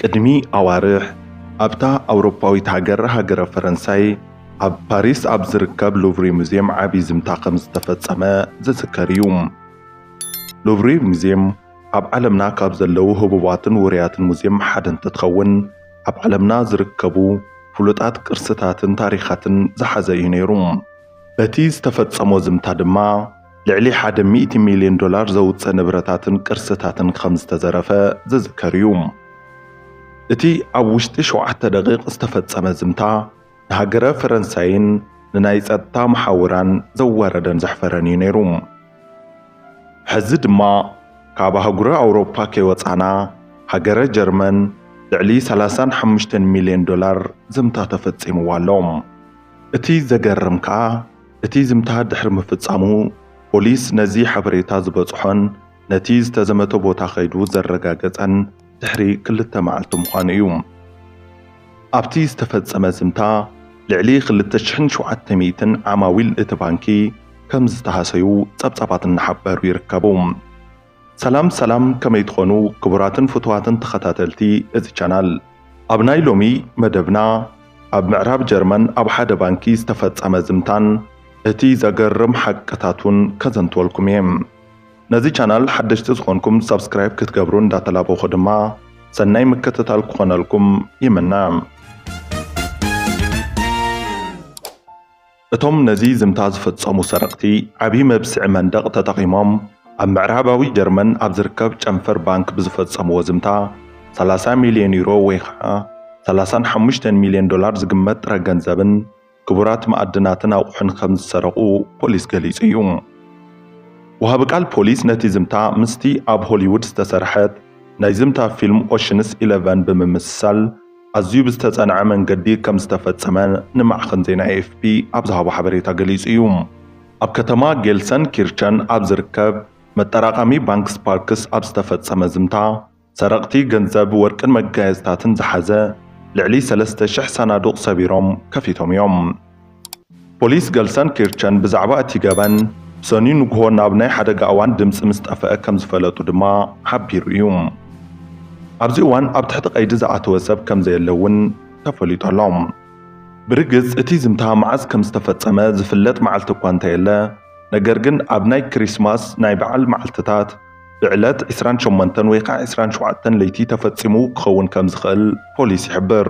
ቅድሚ ኣዋርሕ ኣብታ ኣውሮፓዊት ሃገር ሃገረ ፈረንሳይ ኣብ ፓሪስ ኣብ ዝርከብ ሉቭሪ ሙዝየም ዓብዪ ዝምታ ከም ዝተፈጸመ ዝዝከር እዩ። ሉቭሪ ሙዝየም ኣብ ዓለምና ካብ ዘለዉ ህቡባትን ውሩያትን ሙዝየም ሓደ እንትትኸውን ኣብ ዓለምና ዝርከቡ ፍሉጣት ቅርስታትን ታሪኻትን ዝሓዘ እዩ ነይሩ። በቲ ዝተፈጸሞ ዝምታ ድማ ልዕሊ ሓደ ሚእቲ ሚልዮን ዶላር ዘውጽእ ንብረታትን ቅርስታትን ከም ዝተዘረፈ ዝዝከር እዩ። እቲ ኣብ ውሽጢ ሸውዓተ ደቒቕ ዝተፈጸመ ዝምታ፣ ንሃገረ ፈረንሳይን ንናይ ጸጥታ መሓውራን ዘዋረደን ዘሕፈረን እዩ ነይሩ። ሕዚ ድማ ካብ ኣህጉረ ኣውሮፓ ከይወጻና፣ ሃገረ ጀርመን ልዕሊ ሰላሳን ሓሙሽተን ሚልዮን ዶላር ዝምታ ተፈጺምዋ ኣሎ። እቲ ዘገርም ከኣ፣ እቲ ዝምታ ድሕሪ ምፍጻሙ፣ ፖሊስ ነዚ ሓበሬታ ዝበጽሖን ነቲ ዝተዘመተ ቦታ ከይዱ ዘረጋገጸን ድሕሪ ክልተ መዓልቲ ምዃኑ እዩ። ኣብቲ ዝተፈጸመ ዝምታ፣ ልዕሊ ክልተ ሽሕን ሸውዓተ ሚእትን ዓማዊል እቲ ባንኪ ከምዝተሃሰዩ ጸብጻባት እናሓበሩ ይርከቡ። ሰላም ሰላም ከመይ ትኾኑ ክቡራትን ፍቱዋትን ተኸታተልቲ እዚ ቻናል ኣብ ናይ ሎሚ መደብና ኣብ ምዕራብ ጀርመን ኣብ ሓደ ባንኪ ዝተፈጸመ ዝምታን እቲ ዘገርም ሓቅታቱን ከዘንትወልኩም እየ ነዚ ቻናል ሓደሽቲ ዝኾንኩም ሳብስክራይብ ክትገብሩ እንዳተላበኹ ድማ ሰናይ ምክትታል ክኾነልኩም ይምነ። እቶም ነዚ ዝምታ ዝፈጸሙ ሰረቕቲ፣ ዓቢ መብስዒ መንደቕ ተጠቒሞም ኣብ ምዕራባዊ ጀርመን ኣብ ዝርከብ ጨንፈር ባንክ ብዝፈጸምዎ ዝምታ፣ ሰላሳ ሚልዮን ዩሮ ወይ ኸኣ ሰላሳን ሓሙሽተን ሚልዮን ዶላር ዝግመት ጥረ ገንዘብን ክቡራት መኣድናትን ኣቑሑን ከም ዝሰረቑ ፖሊስ ገሊጹ እዩ። ወሃቢ ቃል ፖሊስ ነቲ ዝምታ ምስቲ ኣብ ሆሊዉድ ዝተሰርሐት ናይ ዝምታ ፊልም ኦሽንስ ኢለቨን ብምምስሳል፣ ኣዝዩ ብዝተጸንዐ መንገዲ ከም ዝተፈጸመ ንማዕኸን ዜና ኤኤፍፒ ኣብ ዝሃቦ ሓበሬታ ገሊጹ እዩ። ኣብ ከተማ ጌልሰንኪርቸን ኣብ ዝርከብ መጠራቐሚ ባንክ ስፓርክስ ኣብ ዝተፈጸመ ዝምታ፣ ሰረቕቲ ገንዘብ፣ ወርቅን መጋየጽታትን ዝሓዘ ልዕሊ ሰለስተ ሽሕ ሳናዱቕ ሰቢሮም ከፊቶም እዮም። ፖሊስ ገልሰንኪርቸን ብዛዕባ እቲ ገበን ሰኑይ ንግሆ ናብ ናይ ሓደጋ እዋን ድምጺ ምስ ጠፍአ ከም ዝፈለጡ ድማ ሓቢሩ እዩ። ኣብዚ እዋን ኣብ ትሕቲ ቀይዲ ዝኣተወ ሰብ ከም ዘየለ እውን ተፈሊጡ ኣሎ። ብርግጽ እቲ ዝምታ መዓዝ ከም ዝተፈጸመ ዝፍለጥ መዓልቲ እኳ እንተየለ፣ ነገር ግን ኣብ ናይ ክሪስማስ ናይ በዓል መዓልትታት ብዕለት ዕስራን ሸሞንተን ወይ ከዓ ዕስራን ሸውዓተን ለይቲ ተፈጺሙ ክኸውን ከም ዝኽእል ፖሊስ ይሕብር።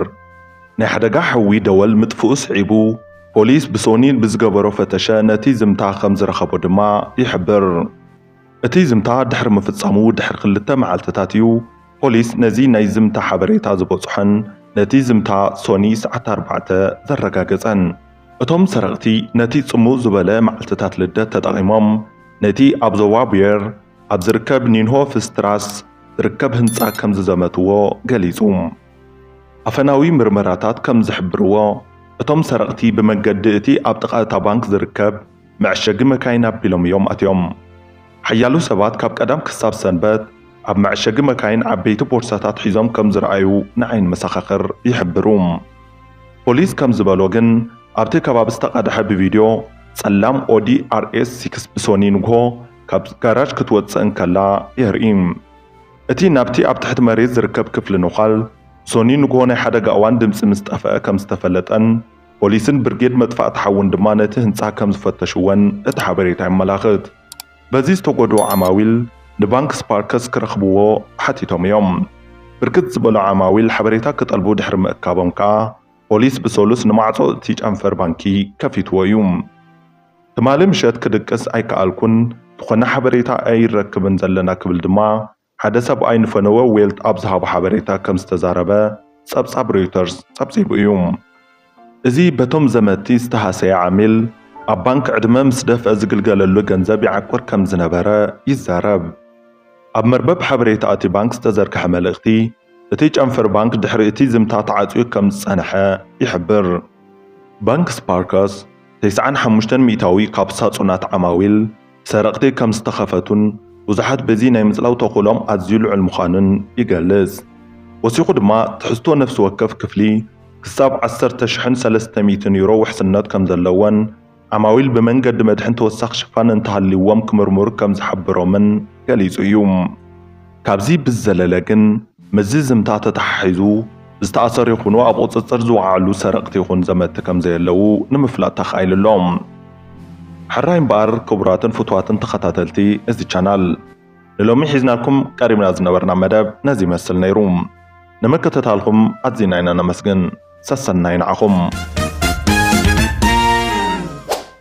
ናይ ሓደጋ ሓዊ ደወል ምጥፍኡ ስዒቡ፣ ፖሊስ ብሶኒ ብዝገበሮ ፈተሸ ነቲ ዝምታ ከም ዝረኸቦ ድማ ይሕብር። እቲ ዝምታ ድሕሪ ምፍጻሙ ድሕሪ ክልተ መዓልትታት እዩ ፖሊስ ነዚ ናይ ዝምታ ሓበሬታ ዝበጽሖን ነቲ ዝምታ ሶኒ ሰዓት ኣርባዕተ ዘረጋገጸን። እቶም ሰረቕቲ ነቲ ጽምው ዝበለ መዓልትታት ልደት ተጠቒሞም ነቲ ኣብ ዞባ ቡየር ኣብ ዝርከብ ኒንሆፍስትራስ ዝርከብ ህንጻ ከም ዝዘመትዎ ገሊጹ። ኣፈናዊ ምርመራታት ከም ዝሕብርዎ፣ እቶም ሰረቕቲ ብመገዲ እቲ ኣብ ጥቓ እታ ባንክ ዝርከብ መዐሸጊ መካይን ኣቢሎም እዮም ኣትዮም። ሓያሎ ሰባት ካብ ቀዳም ክሳብ ሰንበት ኣብ መዐሸጊ መካይን ዓበይቲ ቦርሳታት ሒዞም ከም ዝረኣዩ ንዓይኒ መሰኻኽር ይሕብሩ። ፖሊስ ከም ዝበሎ ግን ኣብቲ ከባቢ ዝተቐድሐ ብቪድዮ ጸላም ኦዲ ኣርኤስ ሲክስ ብሶኒ ንግሆ ካብ ጋራጅ ክትወጽእ እንከላ የርኢ። እቲ ናብቲ ኣብ ትሕቲ መሬት ዝርከብ ክፍሊ ነዃል ሶኒ ንግሆ ናይ ሓደጋ እዋን ድምጺ ምስ ጠፍኣ ከም ዝተፈለጠን ፖሊስን ብርጌድ መጥፋእቲ ሓውን ድማ ነቲ ህንጻ ከም ዝፈተሽዎን እቲ ሓበሬታ የመላኽት። በዚ ዝተጎድኡ ዓማዊል ንባንክ ስፓርከስ ክረኽብዎ ሓቲቶም እዮም። ብርክት ዝበሉ ዓማዊል ሓበሬታ ክጠልቡ ድሕሪ ምእካቦም ከኣ ፖሊስ ብሰሉስ ንማዕጾ እቲ ጨንፈር ባንኪ ከፊትዎ እዩ። ትማሊ ምሸት ክድቅስ ኣይከኣልኩን፣ ዝኾነ ሓበሬታ ኣይረክብን ዘለና ክብል ድማ ሓደ ሰብኣይ ንፈነወ ዌልት ኣብ ዝሃቦ ሓበሬታ ከም ዝተዛረበ ጸብጻብ ሮይተርስ ጸብጺቡ እዩ። እዚ በቶም ዘመትቲ ዝተሃሰየ ዓሚል፣ ኣብ ባንክ ዕድመ ምስ ደፍአ ዝግልገለሉ ገንዘብ ይዓቁር ከም ዝነበረ ይዛረብ። ኣብ መርበብ ሓበሬታ እቲ ባንክ ዝተዘርግሐ መልእኽቲ፣ እቲ ጨንፈር ባንክ ድሕሪ እቲ ዝምታ ተዓጽዩ ከም ዝጸንሐ ይሕብር። ባንክ ስፓርከስ፣ ተስዓን ሓሙሽተን ሚእታዊ ካብ ሳጹናት ዓማዊል ብሰረቕቲ ከም ዝተኸፈቱን ብዙሓት በዚ ናይ ምጽላው ተኽእሎኦም ኣዝዩ ልዑል ምዃኑን ይገልጽ። ወሲኹ ድማ ትሕዝቶ ነፍሲ ወከፍ ክፍሊ ክሳብ ዓሰርተ ሽሕን ሰለስተ ሚእትን ዩሮ ውሕስነት ከም ዘለዎን ዓማዊል ብመንገዲ መድሕን ተወሳኺ ሽፋን እንተሃልይዎም ክምርምሩ ከም ዝሓብሮምን ገሊጹ እዩ። ካብዚ ብዝዘለለ ግን ምስዚ ዝምታ ተተሓሒዙ ዝተኣሰሩ ይኹኑ ኣብ ቁፅፅር ዝወዓሉ ሰረቕቲ ይኹን ዘመትቲ ከምዘየለዉ ንምፍላጥ ተኻኢሉ ኣሎ። ሕራይ እምበኣር ክቡራትን ፍቱዋትን ተኸታተልቲ እዚ ቻናል ንሎሚ ሒዝናልኩም ቀሪብና ዝነበርና መደብ ነዚ ይመስል ነይሩ። ንምክትታልኹም ኣዚና ኢና ነመስግን። ሰሰናዩ ንዓኹም።